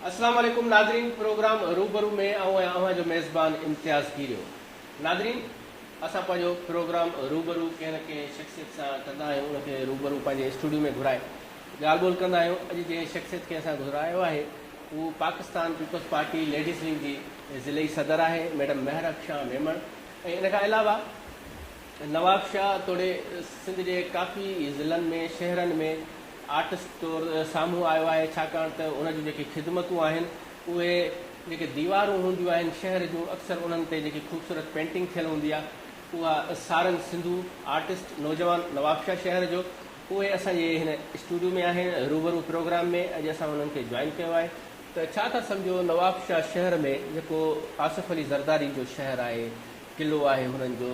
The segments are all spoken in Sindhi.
السلام عليڪم ناظرين پروگرام روبرو ۾ آئون آهيان اوهان جو ميزبان امتياز گيريو ناظرين اسان پنهنجو پروگرام روبرو ڪنهن نه ڪنهن شخصيت سان ڪندا آهيون ان کي روبرو پنهنجي اسٽوڊيو ۾ گهرائي ڳالهه ٻولهه ڪندا آهيون اڄ جنهن شخصيت کي اسان گهرايو آهي هو پاڪستان پيپلز پارٽي ليڊيز ونگ جي ضلعي صدر آهي ميڊم مهر اڪشان ميمڻ ۽ ان کان علاوه نوابشاهه توڙي سنڌ جي ڪافي ضلعن ۾ شهرن ۾ آرٽسٽ طور سامهون آيو آهي ڇاڪاڻ ته ان جون جيڪي خدمتون آهن اهي جيڪي ديوارون هونديون آهن شهر جون اڪثر انهن تي جيڪي خوبصورت پينٽنگ ٿيل هوندي آهي اها سارنگ سنڌو آرٽسٽ نوجوان نوابشاهه شهر جو اهي اسان جي هن اسٽوڊيو ۾ آهن روبرو پروگرام ۾ اڄ اسان انهن کي جوائن ڪيو آهي ته ڇا ٿا سمجهو نوابشاهه شهر ۾ جيڪو آصف علي زردارين جو شهر آهي، قلعو آهي هنن جو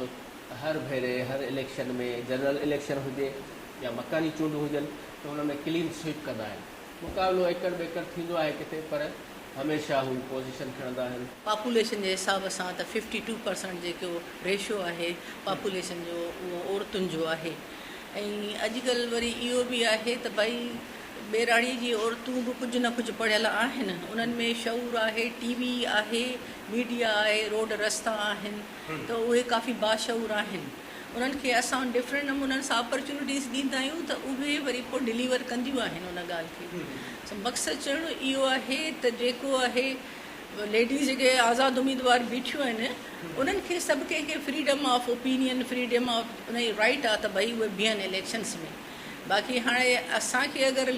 ته هر ڀيري هر اليڪشن ۾ جنرل اليڪشن هجي يا مڪاني چونڊون هجن ته ان ۾ ڪلين سوئپ ڪندا آهن، مقابلو ايڪڙ ٻيڪڙ ٿيندو آهي ڪٿي پر هميشه هو پوزيشن کڻندا آهن. پاپوليشن جي حساب سان ته ففٽي ٽو پرسنٽ جيڪو ريشو آهي پاپوليشن جو اهو عورتن جو آهي ۽ اڄڪلهه وري اهو به آهي ته ڀئي ٻهراڙيء جي عورتون به ڪجهه نه ڪجهه پڙهيل آهن، انهن ۾ شعور آهي، ٽي وي آهي، ميڊيا آهي، روڊ رستا آهن ته اهي ڪافي باشعور آهن. انهن کي اسان ڊفرنٽ نمونن سان اپرچونٽيز ڏيندا آهيون ته اهي وري پوء ڊليور ڪنديون آهن ان ڳالهه کي. سو مقصد چوڻ اهو آهي ته جيڪو آهي ليڊيز جيڪي آزاد اميدوار بيٺيون آهن انهن کي سڀ ڪنهن کي freedom of opinion freedom of انهن جي رائيٽ آهي ته ڀئي اهي بيهن اليڪشنز ۾. باقي هاڻي اسان کي اگر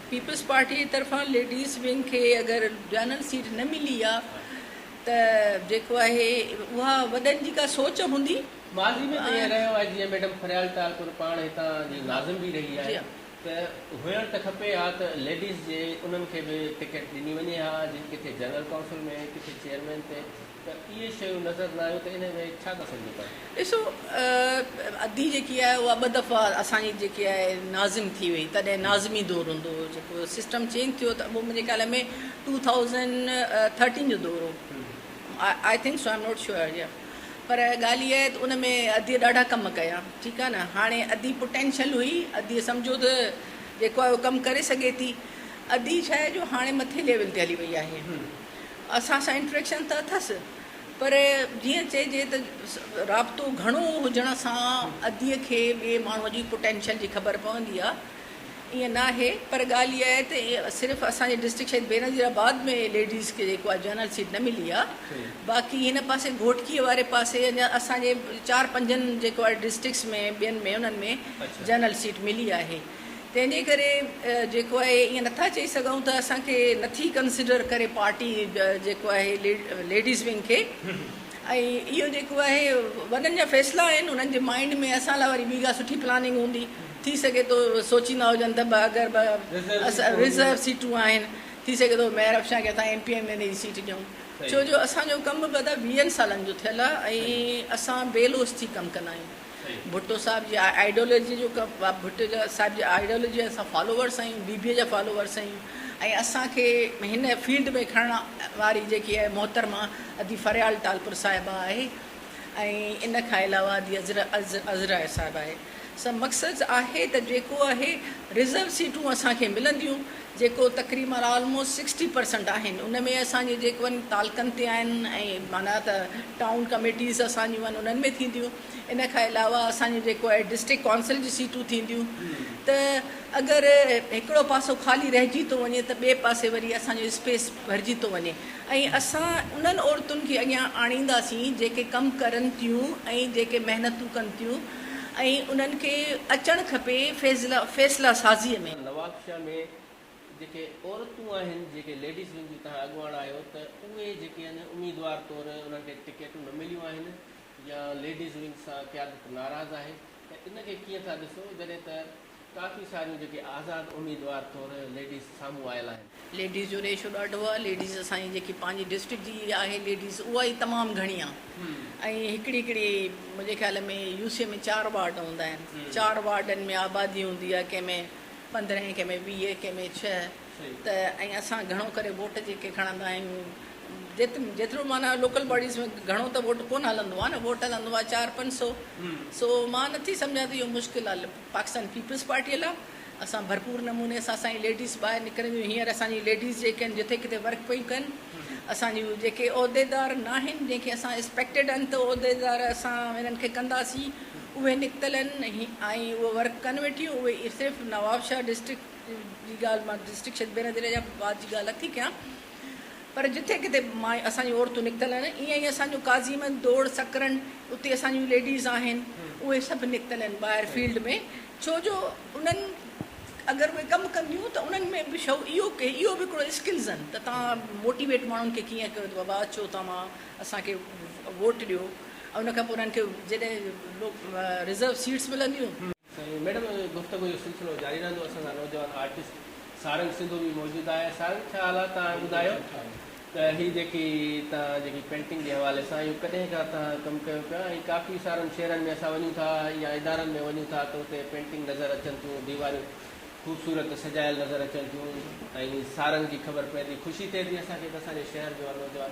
پيپلز پارٽي جي طرفان ليڊيز ونگ کي اگر جنرل سيٽ نه ملي آ ته جيڪو آهي اها وڏن جي ڪا سوچ هوندي. ماضي ۾ ته ائين رهيو آهي جيئن ميڊم فريال ٽالپر پاڻ هتان جي ناظم به رهي آهي ته هئڻ ته کپي ها ته ليڊيز جي انهن کي به ٽڪيٽ ڏني وڃي ها جن ڪٿي جنرل ڪائونسل ۾ ڪٿي چيئرمين تي ته اهي شيون نظر نه آيون ته انهي ۾ ڇا ٿا سمجهو پيا؟ ڏسو ادي جيڪي آهي اها ٻه دفعا اسان جي جيڪي آهي ناظم ٿي وئي تڏهن ناظمي دور هوندو هو جيڪو سسٽم چينج ٿيو ته اهو منهنجي خيال ۾ ٽو ٿائوزنڊ ٿرٽين جو دور هو I think so I am not sure يا پر ڳالهه اها آهي ته ان ۾ ادي ڏاڍا ڪم ڪيا ٺيڪ آهي نه هاڻي ادي پوٽينشل هئي ادي سمجهو ته جيڪو آهي اهو ڪم ڪري سگهي ٿي ادي ڇا آهي جو هاڻي مٿي ليول تي هلي وئي آهي اسان سان انٽريڪشن ته اٿس پر جيئن چئجي ته رابطو گهڻو هجڻ سان ادي کي ٻئي ماڻهو جي پوٽينشل جي خبر پوندي آهي ائين ناهي پر ڳالهه اها آهي ته صرف اسان جي ڊسٽرڪٽ شهيد بينظير آباد ۾ ليڊيز کي جيڪو آهي جنرل سيٽ نه ملي آهي باقي هن پاسي گهوٽڪي واري پاسي اڃان اسان جي چار پنجن جيڪو آهي ڊسٽرڪٽس ۾ ٻين ۾ انهن ۾ جنرل سيٽ ملي آهي تنهن جي ڪري جيڪو آهي ائين نٿا چئي سگهون ته اسان کي نٿي ڪنسڊر ڪري پارٽي جيڪو آهي ليڊيز ونگ کي ۽ اهو جيڪو آهي وڏن جا فيصلا آهن انهن جي مائنڊ ۾ اسان لاء وري ٻي ڪا سٺي پلاننگ هوندي ٿي سگهي ٿو سوچيندا هجن ته اگر ٻه ريزرو سيٽون آهن ٿي سگهي ٿو ميهر افشان کي اسان ايم پي ايم اين جي سيٽ ڏيون ڇو جو اسان جو ڪم به ادا ويهن سالن جو ٿيل آهي ۽ اسان بي لوث ٿي ڪم ڪندا آهيون. ڀٽو صاحب جي آئيڊيولوجي جو ڀٽو صاحب جي آئيڊيولوجي جا اسان فالوورس آهيون بي بي جا فالوورس آهيون ۽ اسانکي هن فيلڊ ۾ کڻڻ واري جيڪي آهي محترمه ادي فريال ٽالپر صاحبه آهي ۽ ان کان علاوه ادي عذرا صاحبه آهي سو مقصد آهي ته جيڪو آهي رزرو سيٽون اسانکي ملنديون جيڪو تقريبن آلموسٽ سڪسٽي پرسنٽ آهن ان ۾ اسان جون جيڪو تعلقن تي آهن ۽ معنيٰ ته ٽائون ڪميٽيز اسان جون آهن انهن ۾ ٿينديون ان کان علاوه اسان جون جيڪو آهي ڊسٽرڪٽ ڪائونسل جون سيٽون ٿينديون ته اگر هڪڙو پاسو خالي رهجي ٿو وڃي ته ٻئي پاسي وري اسان جو اسپيس ڀرجي ٿو وڃي ۽ اسان انهن عورتن کي اڳيان آڻينداسين جيڪي ڪم ڪرن ٿيون ۽ جيڪي محنتون ڪن ٿيون ۽ انهن کي اچڻ کپي فيصلا سازي ۾. شهر ۾ جيڪي عورتون آهن جيڪي ليڊيز ونگ جون تهان اڳواڻ آهيو ته اهي جيڪي آهن اميدوار طور انهن کي ٽڪيٽون نه مليون آهن يا ليڊيز ونگ سان قيادت ناراض آهي ته ان کي ڪيئن ٿا ڏسو جڏهن ته ڪافي ساريون جيڪي آزاد اميدوار طور ليڊيز سامهون آيل آهن. ليڊيز جو ريشو ڏاڍو آهي ليڊيز اسان جي جيڪي پنهنجي ڊسٽرڪٽ جي آهي ليڊيز اها ئي تمام گهڻي آهي ۽ هڪڙي هڪڙي منهنجي خيال ۾ يو سي ۾ چار وارڊ هوندا آهن چار وارڊن ۾ آبادي هوندي آهي ڪنهن ۾ پندرهن ڪنهن ۾ ويهه ڪنهن ۾ ڇهه ته ۽ اسان گهڻو ڪري ووٽ جيڪي کڻندا آهيون جت جيترو معنيٰ لوڪل باڊيز ۾ گهڻو ته ووٽ ڪونه هلندو آهي نه ووٽ هلندو آهي چار پنج سو سو مان نٿي سمجهان ته اهو مشڪل آهي پاڪستان پيپلز پارٽي لاء اسان ڀرپور نموني سان اسان جي ليڊيز ٻاهر نڪرنديون هينئر اسان جي ليڊيز جيڪي آهن جتي ڪٿي ورڪ پيون ڪن اسان جون جيڪي عهديدار ناهن جنهن کي اسان اسپيڪٽيڊ آهن ته عهديدار اسان هنن کي ڪنداسين اهي نڪتل آهن ۽ اهي ورڪ ڪن ويٺيون اهي اهي صرف نوابشاهه ڊسٽرڪٽ جي ڳالهه مان ڊسٽرڪٽ شبينا ضلعي جا بعد جي ڳالهه نٿي ڪيان پر جتي ڪٿي مايون اسان جون عورتون نڪتل آهن ائين ئي اسان جو قاضي مند دوڙ سڪرن اتي اسان جون ليڊيز آهن اهي سڀ نڪتل آهن ٻاهر فيلڊ ۾ ڇو جو انهن اگر اهي ڪم ڪنديون ته انهن ۾ به شعور اهو اهو به هڪڙو اسڪلز آهن ته تان موٽيويٽ ماڻهن کي ڪيئن ڪيو ته بابا اچو توهان اسان کي ووٽ ڏيو ۽ ان کان پوء انهن کي جڏهن رزرو سيٽس ملنديون. سائين ميڊم گفتگو جو سلسلو جاري رهندو اسان سان نوجوان آرٽسٽ سارنگ سنڌو به موجود آهي سارنگ ڇا حال آهي تهان ٻڌايو ته هي جيڪي تهان جيڪي پينٽنگ جي حوالي سان اهو ڪڏهن کان تهان ڪم ڪيو پيا ۽ ڪافي سارن شهرن ۾ اسان وڃون ٿا يا ادارن ۾ وڃون ٿا ته اتي پينٽنگ نظر اچن ٿيون ديواريون خوبصورت سجايل نظر اچن ٿيون ۽ سارنگ جي خبر پوندي خوشي ٿئي ٿي اسان کي ته اسان جي شهر جو نوجوان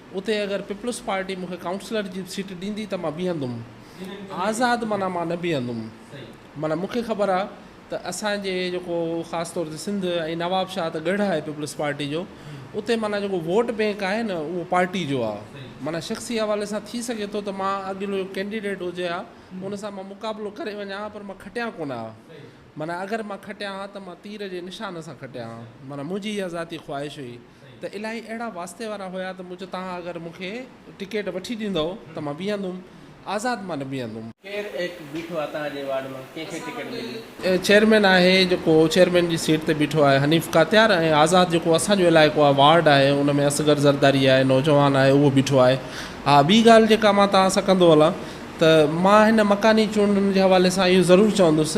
اتي اگر پيپلز پارٽي مون کي ڪائونسلر جي سيٽ ڏيندي ته مان بيهندم آزاد معنيٰ مان نه بيهندم معنيٰ مون کي خبر آهي ته اسانجي جيڪو خاص طور تي سنڌ ۽ نواب شاهه ته ڳڙهه آهي پيپلز پارٽي جو اتي معنيٰ جيڪو ووٽ بينڪ آهي نه اهو پارٽي جو آهي معنيٰ شخصي حوالي سان ٿي سگهي ٿو ته مان اڳلو ڪينڊيڊيٽ هجي ها ان سان مان مقابلو ڪري وڃان ها پر مان کٽيان ڪونه ها معنيٰ اگر مان کٽيان ها ته مان تير جي نشان سان کٽيان ها معنيٰ منهنجي اها ذاتي خواهش هئي ته الاهي اهڙا واسطي وارا هيا ته مون چيو توهان اگر مون کي ٽڪيٽ وٺي ڏيندؤ ته مان بيهندم آزاد مان نه بيهندم. ڪير ايڪ بيٺو آ توهان جي وارڊ مان ڪنهن کي ٽڪيٽ ملي. چيئرمين آهي جيڪو چيئرمين جي سيٽ تي بيٺو آهي حنيف ڪاتيار ۽ آزاد جيڪو اسان جو علائقو آهي وارڊ آهي ان ۾ اصغر زرداري آهي نوجوان آهي اهو بيٺو آهي ها ٻي ڳالهه جيڪا مان توهان سان ڪندو هلان ته مان هن مڪاني چونڊن جي حوالي سان اهو ضرور چوندس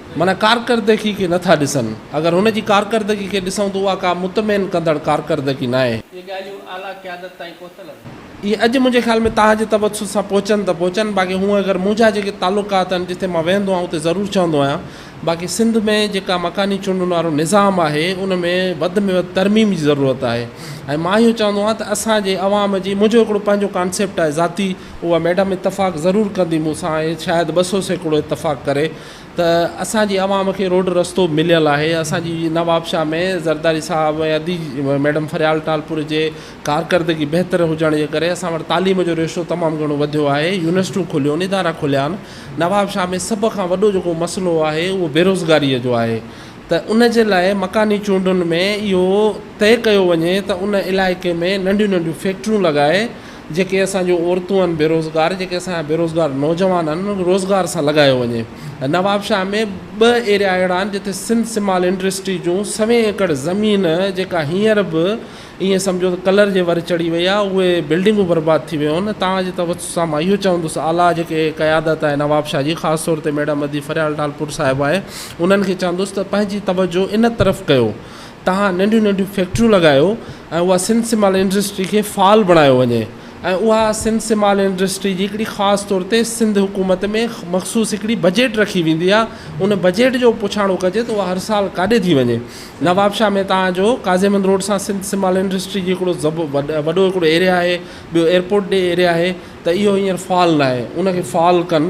معنيٰ ڪارڪردگي کي نٿا ڏسن. اگر هن جي ڪارڪردگي کي ڏسون ته اها ڪا مطمئن ڪندڙ ڪارڪردگي ناهي. اهي ڳالهيون اعليٰ قيادت تائين پهتل آهن. اهي اڄ منهنجي خيال ۾ تاج تبسط سان پهچن ته پهچن باقي هونء اگر منهنجا جيڪي تعلقات آهن جتي مان ويهندو آهيان اتي ضرور چوندو آهيان باقي سنڌ ۾ جيڪا مڪاني چونڊن وارو نظام آهي ان ۾ وڌ ۾ وڌ ترميم جي ضرورت آهي ۽ مان اهو چوندو آهيان ته اسان جي عوام جي منهنجو هڪڙو پنهنجو ڪانسيپٽ آهي ذاتي اها ميڊم اتفاق ضرور ڪندي مون سان ۽ شايد ٻه سو سيڪڙو اتفاق ڪري. ته اسان جي عوام کي روڊ رستو مليل آهي اسان جي نوابشاهه ۾ زرداري صاحب ۽ ادي ميڊم فريال ٽالپر جي ڪارڪردگي بهتر هجڻ جي ڪري اسان وٽ تعليم جو ريشو تمام گهڻو وڌيو آهي يونيورسٽيون کليون ادارا کليا آهن نوابشاهه ۾ سڀ کان وڏو جيڪو مسئلو آهي اهو بيروزگاري جو آهي ته ان جي لاء مڪاني چونڊن ۾ اهو طئي ڪيو وڃي ته ان علائقي ۾ ننڍيون ننڍيون فيڪٽريون لڳائي جيڪي اسان جون عورتون آهن بيروزگار جيڪي اسان جا بيروزگار نوجوان آهن انهن کي روزگار سان لڳايو وڃي نوابشاهه ۾ ٻه ايريا اهڙا آهن جتي سنڌ سمال انڊسٽري جون سوين ايڪڙ زمين جيڪا هينئر به ائين سمجهو ته ڪلر جي ور چڙهي وئي آهي اهي بلڊنگون برباد ٿي ويون آهن تاج توجھ سان مان اهو چوندس اعليٰ جيڪي قيادت آهي نوابشاهه جي خاص طور تي ميڊم ادي فريال ٽالپور صاحبه آهي انهن کي چوندس ته پنهنجي توجھ ان طرف ڪيو تهان ننڍيون ننڍيون فيڪٽريون لڳايو ۽ اها سنڌ سمال انڊسٽري کي فعال بڻايو وڃي ۽ اها سنڌ سمال انڊسٽري جي هڪڙي خاص طور تي سنڌ حڪومت ۾ مخصوص هڪڙي بجيٽ رکي ويندي آ ان بجيٽ جو پڇاڻو ڪجي ته اها هر سال ڪاڏي ٿي وڃي نوابشاهه ۾ تهان جو قاضي مند روڊ سان سنڌ سمال انڊسٽري جي هڪڙو زب وڏو هڪڙو ايريا آهي ٻيو ايئرپورٽ ڏي ايريا آهي ته اهو هينئر فعال ناهي ان کي فعال ڪن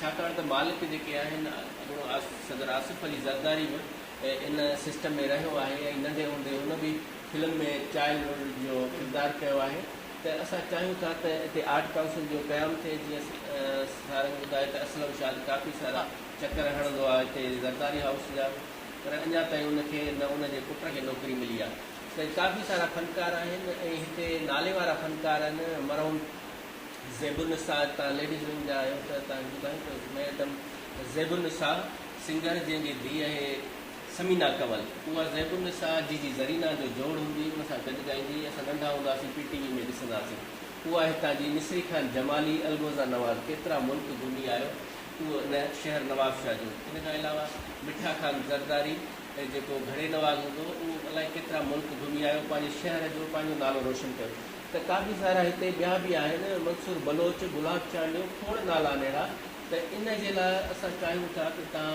ڇاڪاڻ ته مالڪ جيڪي آهن اڳوڻو صدر آصف علي زرداري به ان سسٽم ۾ رهيو آهي ۽ ننڍي هوندي هن به فلم ۾ چائلڊ هوڊ جو ڪردار ڪيو آهي ته اسان چاهيون ٿا ته اتي آرٽ ڪائونسل جو قيام ٿئي جيئن سارنگ ٻڌائي ته اسلم شاد ڪافي سارا چڪر هڻندو آهي اتي زرداري هائوس جا پر اڃا تائين ان کي نه ان جي پٽ کي نوڪري ملي آهي ته ڪافي سارا فنڪار آهن ۽ هتي نالي وارا فنڪار آهن مرحوم زيب النساء تان ليڊيز ونگ جا آهيو ته تان ٻڌايو ته ميڊم زيب النساء سنگر جنهن جي ڌيء اهي ثمينه ڪنول اها زيب النساء جي جي زرينه جو جوڙ هوندي ان سان گڏ ڳائيندي هئي اسان ننڍا هوندا سين پي ٽي وي ۾ ڏسندا سين اها هتان جي مصري خان جمالي الگوزا نواز ڪيترا ملڪ گهمي آهيو اهو ان شهر نواب شاهه جو ان کان علاوه مٺا خان زرداري جيڪو گهڙي نواز هوندو اهو الائي ڪيترا ملڪ گهمي آهيو پنهنجي شهر جو پنهنجو نالو روشن ڪيو ته ڪافي سارا هتي ٻيا به آهن منصور بلوچ، گلاب چانڊيو کوڙ نالا نهڙا ته ان جي لاء اسان چاهيون ٿا ته تان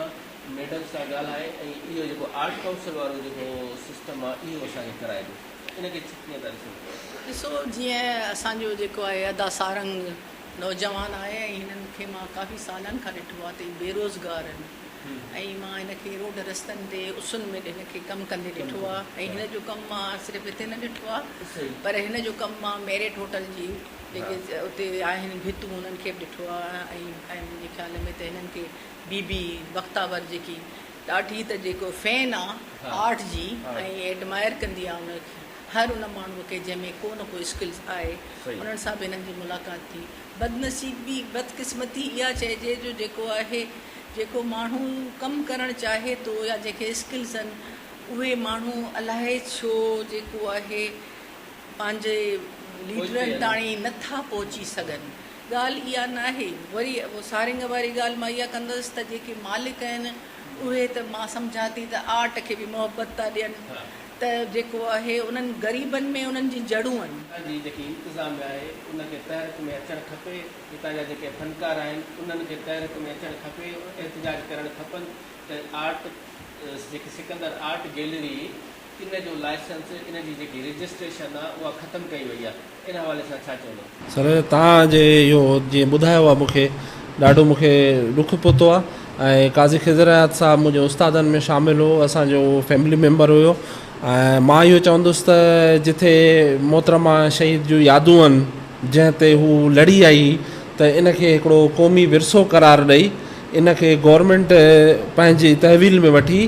ميڊم سان ڳالهائي ۽ اهو جيڪو آرٽ ڪائونسل وارو جيڪو سسٽم آ اهو اسان کي ڪرائي ڏيو ان کي ڪيئن ٿا ڏسو پيا. ڏسو جيئن اسان جو جيڪو آهي ادا سارنگ نوجوان آهي ۽ هنن کي مان ڪافي سالن کان ڏٺو آ ته هي بيروزگار آهن ۽ مان هن کي روڊ رستن تي اسن ۾ هن کي ڪم ڪندي ڏٺو آهي ۽ هن جو ڪم مان صرف هتي نه ڏٺو آهي پر هن جو ڪم مان ميريٽ هوٽل جي جيڪي اتي آهن ڀتون انهن کي به ڏٺو آهي ۽ منهنجي خيال ۾ ته هنن کي بي بي بختاور جيڪي ڏاڍي ته جيڪو فين آهي آرٽ جي ۽ ايڊمائر ڪندي آهي ان کي هر ان ماڻهو کي جنهن ۾ ڪو نه ڪو اسڪلز آهي انهن سان به هنن جي ملاقات ٿي بدنصيبي، بدقسمتي، اها چئجي جو جيڪو آهي، جيڪو ماڻهو ڪم ڪرڻ چاهي ٿو يا جنهن کي اسڪلز آهن، اهي ماڻهو الائي ڇو جيڪو آهي پنهنجي ليڊرن تاڻي نه ٿا پهچي سگهن. ڳالهه اها ناهي. وري سارنگ واري ڳالهه مان اها ڪندس ته جيڪي مالڪ آهن، اهي ته مان سمجهان ٿي ته آرٽ کي به محبت ٿا ڏين. ته جيڪو اهي انهن غريبن ۾ انهن جي جڙون آهن. جي جيڪي انتظاميه آهي ان کي تحرڪ ۾ اچڻ کپي هتان جا جيڪي فنڪار آهن انهن کي تحرڪ ۾ اچڻ کپي احتجاج ڪرڻ کپن ته آرٽ جيڪي سڪندر آرٽ گيلري ان جو لائسنس ان جي جيڪي رجسٽريشن آهي اها ختم ڪئي وئي آهي. ان حوالي سان ڇا چوندو؟ سر توهان جي اهو جيئن ٻڌايو آهي مون کي ڏاڍو مون کي ڏک پهتو آهي ۽ قاضي خضر حيات صاحب منهنجي استادن ۾ شامل هو اسان جو اهو فيملي ميمبر هيو ۽ مان اهو چوندس ته جٿي محترمه شهيد جون يادون آهن جنهن تي هو لڙي آئي هئي ته ان کي هڪڙو قومي ورثو قرار ڏئي ان کي گورنمينٽ پنهنجي تحويل ۾ وٺي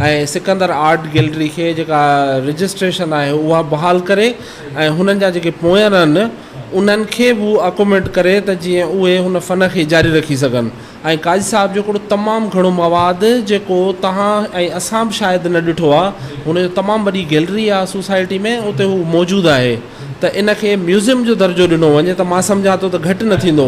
۽ سڪندر آرٽ گيلري کي جيڪا رجسٽريشن آهي اها بحال ڪري ۽ هنن جا جيڪي پويان آهن انهن کي به اڪوميڊ ڪري ته جيئن اهي هن فن کي جاري رکي سگهن ۽ قاضي صاحب جو هڪڙو تمام گهڻو مواد جيڪو توهان ۽ اسان به شايد نه ڏٺو آهي هن جو تمام وڏي گيلري آهي سوسائٽي ۾ اتي هو موجود آهي ته ان کي ميوزم جو درجو ڏنو وڃي ته مان سمجهان ٿو ته گهٽ نه ٿيندو